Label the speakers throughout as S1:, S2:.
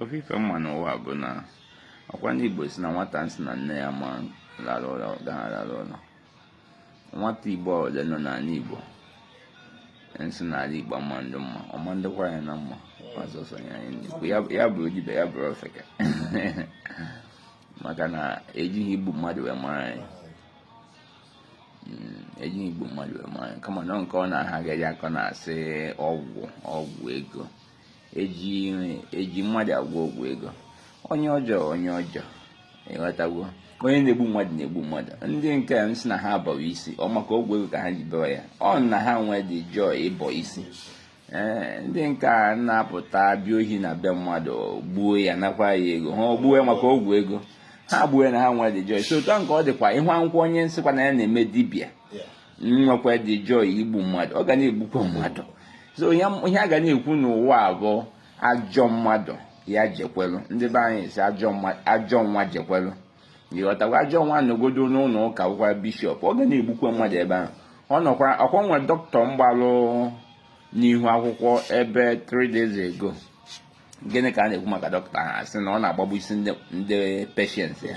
S1: ofu ife m ma n'ụwa bụ na ọkwa ndị Igbo sị na nwata nsị na nne ya ama lara ụla agaghị alara ụla nwata Igbo ole nọ n'ala Igbo nsị n'ala Igbo ama ndị mma ọma ndịkwa ya na mma ọzọsọ ya ndị ya bụrụ dibịa ya bụrụ ofeke maka na ejighị igbu mmadụ wee mara anyị hmm, ejighị igbu mmadụ wee mara anyị kama na nke ọ na ha ga-eji akọ na-asị ọgwụ ọgwụ ego eji eji mmadụ agwọ ọgwụ ego onye ọjọọ onye ọjọọ ị ghọtago onye na-egbu mmadụ na-egbu mmadụ ndị nke nsị na ha abọwa isi ọ maka ọgwụ ego ka ha ji bewa ya ọ na ha nwee the joy ịbọ isi ee ndị nke a na-apụta bịa ohi na be mmadụ gbuo ya nakwa ya ego ha ọ gbuo ya maka ọgwụ ego ha gbuo ya na ha nwee the joy isi otu a nke ọ dịkwa ị hụkwa onye nsịkwa na ya na-eme dibịa nwekwa the joy igbu mmadụ ọ ga na-egbukwa mmadụ so ihe a ga na-ekwu n'ụwa bụ ajọ mmadụ ya jekwelu ndị be anyị sị ajọ nwa jekwelu ị ghọtago ajọ nwa nọgodu n'ụnọ ụka bụkwa bishop ọ ga na-egbukwa mmadụ ebe ahụ ọ nọkwara ọkwa nwe doctor mgbalụ n'ihu akwụkwọ ebe 3 days ago gịnị ka a na-ekwu maka doctor ha sị na ọ na-agbagbusi ndị patient ya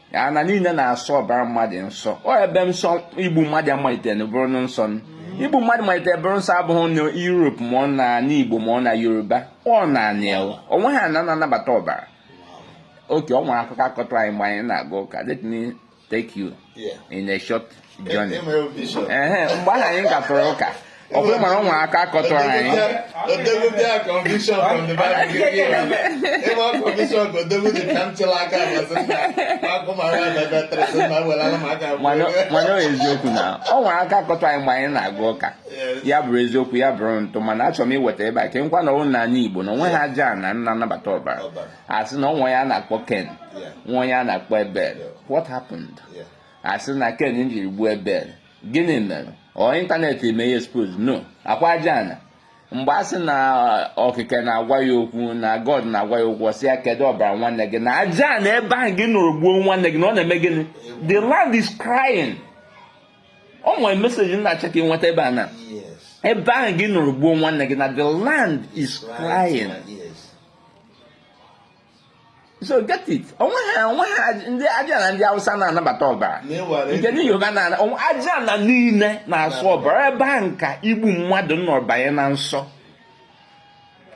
S1: ana niile na-asọ ọbara mmadụ nsọ ọ ebe nsọ igbu mmadụ malitere bụrụ nsọ igbu mmadụ malitere bụrụ nsọ abụghị na Europe ma ọ na ala Igbo ma ọ na Yoruba ọ na anị o nweghị ana na-anabata ọbara okay ọ nwere akụkọ a kọtụ anyị mgbe anyị na-aga ụka let me take you in a short journey ehe mgbe ahụ anyị gatụrụ ụka ọ bụrụ mara ọ nwere aka a kọtụrụ anyị mana ọ eziokwu na ọ nwere aka a kọtụ anyị mgbe anyị na-aga ụka ya bụrụ eziokwu ya bụrụ ntụ mana achọrọ m iweta ebe a ka m gwa ụnụ na anị Igbo na o nweghị aja ana na-anabata ọbara a sị na ọ nwe onye a na-akpọ Cain nwe onye a na-akpọ Abel what happened a sị na Cain njiri gbuo Abel gịnị mere ọ internet mee ya expose no ọkwa aja ana mgbe a sị na okike na-agwa ya okwu na god na-agwa ya okwu sị ya kedu ọbara nwanne gị na aja ana ebe ahụ gị nọrọ gbuo nwanne gị na ọ na-eme gịnị the land is crying ọ nwere message m na-achọ ka ị nweta ebe a na ebe ahụ gị nọrọ gbuo nwanne gị na the land is crying so get it o nweghị o nweghị ndị aja ana ndị awụsa na-anabata ọbara nke ndị yoruba na aja ana niile na-asọ ọbara ebe ahụ ka igbu mmadụ nọ banye na nsọ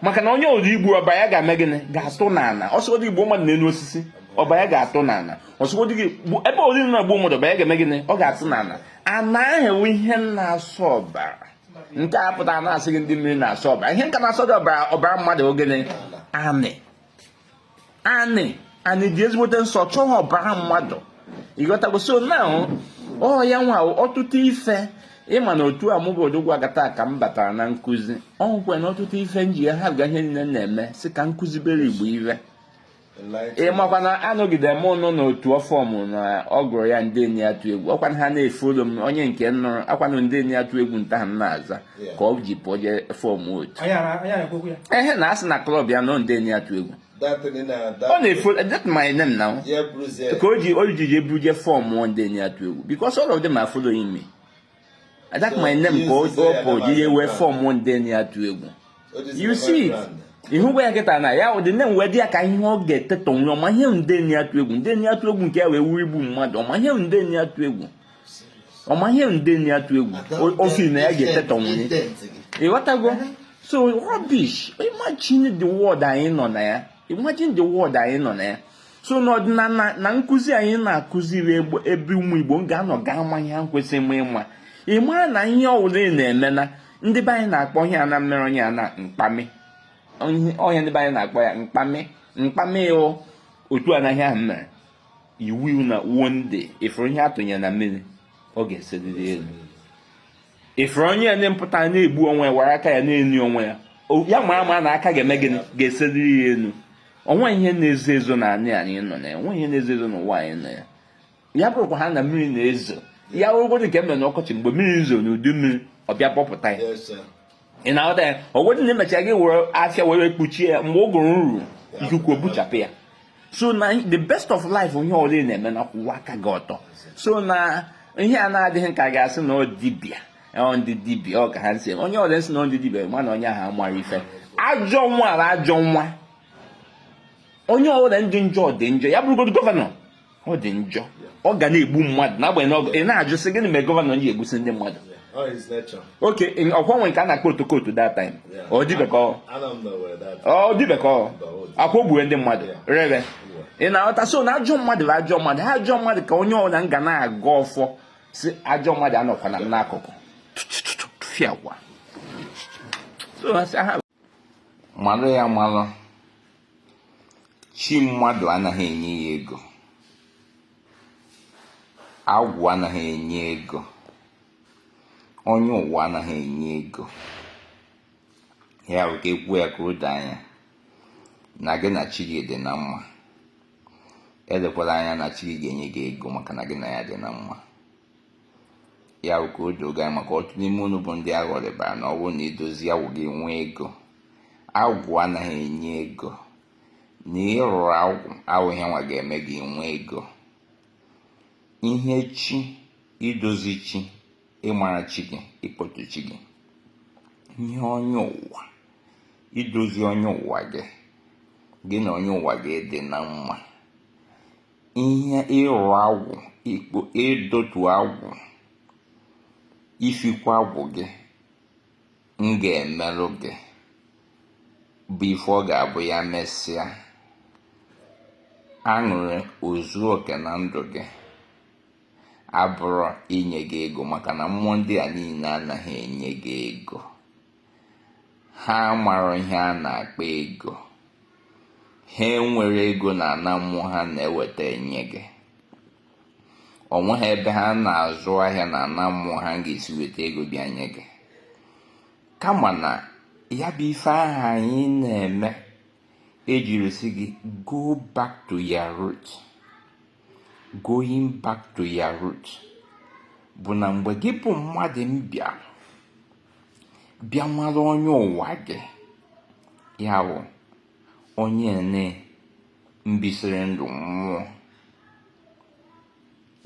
S1: maka na onye ọ dị i gbu ọbara ya ga-eme gịnị ga-atụ n'ala ọ sọgodị gị gbuo mmadụ n'elu osisi ọbara ya ga-atụ n'ala ọ sọgodị gị ebe ọ dị na-egbu mmadụ ọbara ya ga-eme gịnị ọ ga-atụ n'ala ana bụ ihe na-asọ ọbara nke a pụtara na-asị gị ndị mmiri na-asọ ọbara ihe nka na-asọ gị ọbara ọbara mmadụ ogene anị anị anị dị ezigbote nsọ chọọ ọbara mmadụ ịghọtago so na ọ ya nwa ọtụtụ ife ị manụ otu a mụ bụ odogwu akataka m batara na nkụzi o nwekwanụ ọtụtụ ife m ji ya haa ihe niile na-eme sị ka m kụzibere igbo ive ị makwa na anọgide m ụnụ n'otu ọ form na ọ gụrụ ya ndị a na-atụ egwu ọkwa na ha na-efollow m onye nke nụrụkwanụ ndị a na-atụ egwu that aha m na-aza ka o ji pụọ je form otu Anyị ara- anyị na-ekwekwu ya. ehe na asị na club ya nọ ndị a na-atụ egwu Datịrị na ọ datịrị. na-efollow that my name now Ya bụrụzie. ka o ji o ji je buru je form ndị a na-atụ egwu because all of them are following me that my name ka o pụ ji ya wee form ndị a na-atụ egwu you see it ihụgwa ya nkịta na ya ụdị na-enwe dị ya ka ihe ọ ga-etetọ nri ọ ma ihe ndị a na-atụ egwu ndị a na-atụ egwu nke ya wee wuo igbu mmadụ ọ ma ihe ndị a na-atụ egwu ọ ma ihe ndị a na-atụ egwu ofi na ya ga-etetọ nri ịghọtago so rubbish imagine the world anyị nọ na ya imagine the world anyị nọ na ya so n'ọdịnala na nkụzi anyị na-akụziri ebe ụmụ igbo m ga-anọ ga ama ihe ha kwesịrị m ịma ị mara na ihe ọwụla ị na-eme na ndị be anyị na-akpọ ihe a na-emere onye a na mkpamị ọ ihe ndị be anyị na-akpọ ya mkpamị mkpamị o otu anaghị ahụ mere iwu na one day ị fụrụ ihe a tụnyere na mmiri ọ ga-eseliri elu ị fụrụ onye ya nye pụta na-egbu onwe ya were aka ya na-eni onwe ya ya ma ama na ọ ka ga-eme gịnị ga-eseliri ya elu o nweghị ihe na-ezo ezo na anyị anyị nọ na ya o nweghị ihe na-ezo ezo n'ụwa anyị nọ ya ya bụrụkwa ha na mmiri na-ezo ya wụgodu nke mere n'ọkọchị mgbe mmiri zoo n'udu mmiri ọ bịa kpọpụta ya ị na-aghọta ya ọ wụgodu na e mechaa gị were afịfịa were kpuchie ya mgbe ụgụrụ ruru ikuku buchapụ ya so na the best of life ihe ọbụla ị na-eme na kwụwa aka gị ọtọ so na ihe a na-adịghị ka a ga-asị na ọ dibịa ndị dibịa ọ ka ha si onye ọdị nsị na ndị dibịa ma na onye ahụ amara ife ajọ nwa ala ajọ nwa onye ọbụla dị njọ dị njọ ya bụrụgodu governor ọ dị njọ ọ ga na-egbu mmadụ n'agbanyeghị ọgụ ị na-ajụ sị gịnị mere governor ji egbusi ndị mmadụ okay ọkwa e nwe nke a na-akpọ otokoto that time ọ dịbekọ ọ dịbekọ ọkwa o gbue ndị mmadụ ree ị na-aghọta so na ajọ mmadụ bụ ajọ mmadụ ha ajọ mmadụ ka onye ọbụla ga na-agọ ọfọ sị ajọ mmadụ anọkwana m n'akụkụ fịakwa malụ ya malụ chi mmadụ anaghị enye ya ego agwụ anaghị enye ego onye ụwa anaghị enye ego ya bụ ka e kwuo ya ka o doo anya na gị na chi gị dị na mma elekwala anya na chi gị ga-enye gị ego maka na gị na ya dị na mma ya bụ ka o doo gị anya maka ọtụtụ n'ime unu bụ ndị aghọrịbara na ọ bụrụ na i dozie agwụ gị nwee ego agwụ anaghị enye ego na ịrụrụ agwụ awụghị ihe nwa ga-eme gị nwee ego ihe chi idozi chi ịmara chi gị ịkpọtụ chi gị ihe onye ụwa idozi onye ụwa gị gị na onye ụwa gị dị na mma ihe ịrụ agwụ ikpo ịdọtu agwụ ifikwa agwụ gị ga-emerụ gị bụ ife ọ ga-abụ ya mesịa aṅụrị ezuo oke na ndụ gị abụrọ inye gị ego maka na mmụọ ndị a niile anaghị enye gị ego ha amarọ ihe a na-akpọ ego ha enwerọ ego na ana mmụọ ha na-eweta enye gị o nweghị ebe ha na-azụ ahịa na ana mmụọ ha ga-esi weta ego bịa nye gị kama na ya bụ ife ahụ anyị na-eme e jiri sị gị go back to your root going back to your root bụ na mgbe gị bụ mmadụ mbịa bịa mara onye ụwa gị ya bụ onye ne mbisiri ndụ mmụọ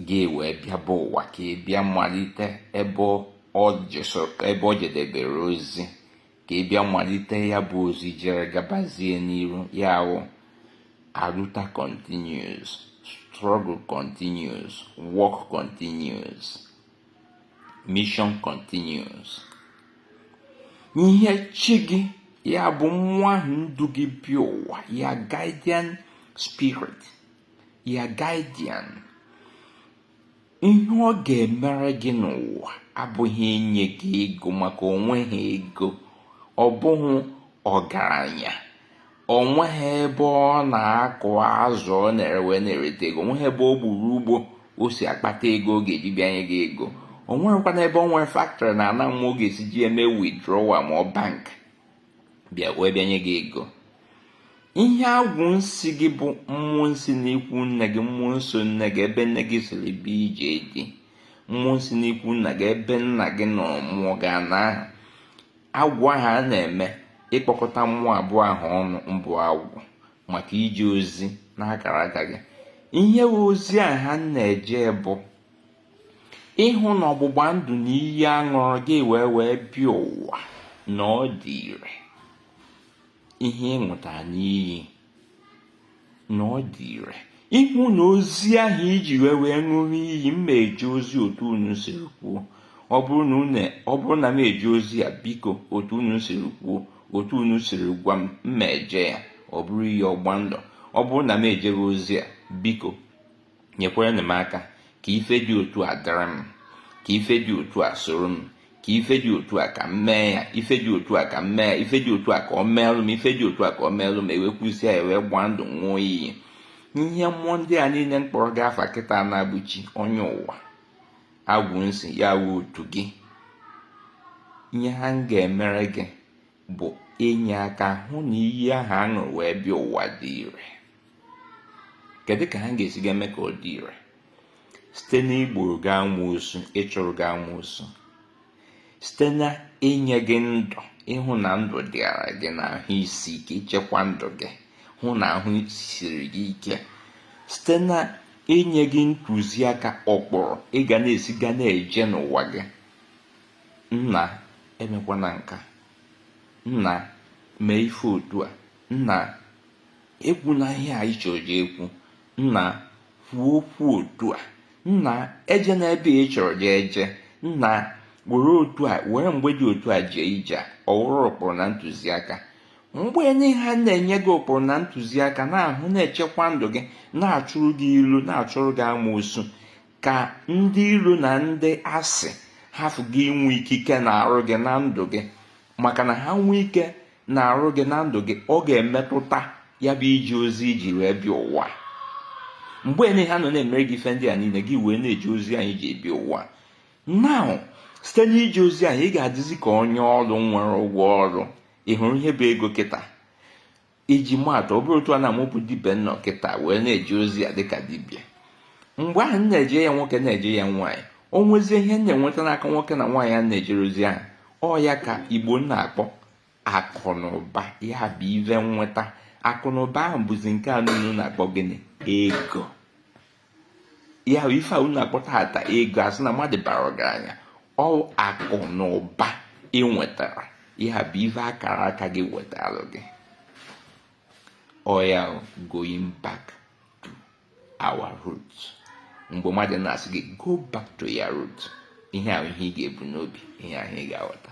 S1: gị wee bịaba ụwa ka ị bịa malite ebe ọ jedebere ozi ka ị bịa malite ya bụ ozi jere gabazie n'iru ya bụ aluta continues struggle continues work continues mission continues ihe chi gị ya bụ mmụọ ahụ ndu gị bịa ụwa your guardian spirit your guardian ihe ọ ga-emere gị n'ụwa abụghị inye gị ego maka o nweghị ego ọ bụghị ọgaranya o nweghị ebe ọ na-akụ azụ ọ na-ere wee na-ereta ego o nweghị ebe ọ gburu ugbo o si akpata ego ọ ga-eji bịanye gị ego o nweghịkwanụ ebe ọ nwere factory na ana mmụọ ọ ga-esi ji eme withdrawal na bank bịa wee bịanye gị ego ihe agwụ nsi gị bụ mmụọ nsi n'ikwu nne gị mmụọ nso nne gị ebe nne gị siri bịa ije di mmụọ nsi n'ikwu nna gị ebe nna gị nọrọ mụọ gị ana ahụ agwụ ahụ a na-eme ịkpọkọta mmụọ abụọ ahụ ọnụ mbụ agwụ maka ije ozi n'akara aka gị ihe ozi a ha na-eje bụ ịhụ na ọgbụgba ndụ na iyi a ṅụrụ gị wee wee bịa ụwa na ọ dị ire ihe ị ṅụta n'iyi na ọ dị ire ịhụ na ozi ahụ i ji wee wee ṅụrụ iyi m eje ozi otu unu siri kwuo ọ bụrụ na unu ọ bụrụ na m eje ozi a biko otu unu siri kwuo otu unu siri gwa m m ma eje ya ọ bụrụ iyi ọgba ndụ ọ bụrụ na m ejeghị ozi a biko nyekwaranụ m aka ka ife dị otu a dịrị m ka ife dị otu a soro m ka ife dị otu a ka m mee ya ife dị otu a ka m mee ife dị otu a ka ọ meelụ m ife dị otu a ka ọ meelụ m e wee kwusia ya wee gbaa ndụ ṅụọ iyi ihe mmụọ ndị a niile m kpọrọ gị afa kịta na-abụ chi onye ụwa agwụ nsị ya wụ otu gị ihe ha ga-emere gị bụ inye aka hụ na iyi ahụ a ṅụrụ wee bịa ụwa dị ire kedu ka ha ga-esi ga-eme ka ọ dị ire site n'igboro gị amoosu ịchụrụ gị amoosu site na inye gị ndụ ịhụ na ndụ dịara gị na ahụ isi ike ichekwa ndụ gị hụ na ahụ siri gị ike site na inye gị ntụziaka ụkpụrụ ị ga na-esi ga na-eje n'ụwa gị Nna, emekwana nka. Nna, mee ife otu a. Nna, ekwuna ihe a ị chọrọ je ekwu. Nna, kwuo okwu otu a. Nna, ejena ebe ị chọrọ je eje. Nna, were otu a were mgbe dị otu a jee ije a ọ wụrụ ụkpụrụ na ntụziaka mgbe niile ha na-enye gị ụkpụrụ na ntụziaka na-ahụ na-echekwa ndụ gị na-achụrụ gị ilo na-achụrụ gị amoosu ka ndị iro na ndị asị hafụ gị inwe ikike n'arụ gị na ndụ gị maka na ha nwee ike n'arụ gị na ndụ gị ọ ga-emetụta ya bụ ije ozi i ji wee bịa ụwa mgbe niile ha nọ na-emere gị ife ndị a niile gị wee na-eje ozi ahụ i ji bịa ụwa now site n'ije ozi ahụ ị ga-adịzi ka onye ọrụ nwere ụgwọ ọrụ ị hụrụ ihe bụ ego kịta iji maatụ ọ bụrụ otu a na mụ bụ dibịa nọ kịta wee na-eje ozi a dịka dibịa mgbe ahụ m na-eje ya nwoke na-eje ya nwaanyị o nwezie ihe m na-enweta n'aka nwoke na nwaanyị a na-ejere ozi ahụ ọ ya ka igbo na-akpọ akụ na ụba ya bụ ive nweta akụ na ụba ahụ bụzi nke a unu na-akpọ gịnị ego ya bụ ife a unu na-akpọ tata ego a sị na mmadụ bara ọgaranya ọ akụ na ụba ị nwetara ya bụ ife akara aka gị wetara gị oya going back to our root mgbe mmadụ na-asị gị go back to your root ihe ahụ ihe ị ga-ebu n'obi ihe ahụ ị ga-aghọta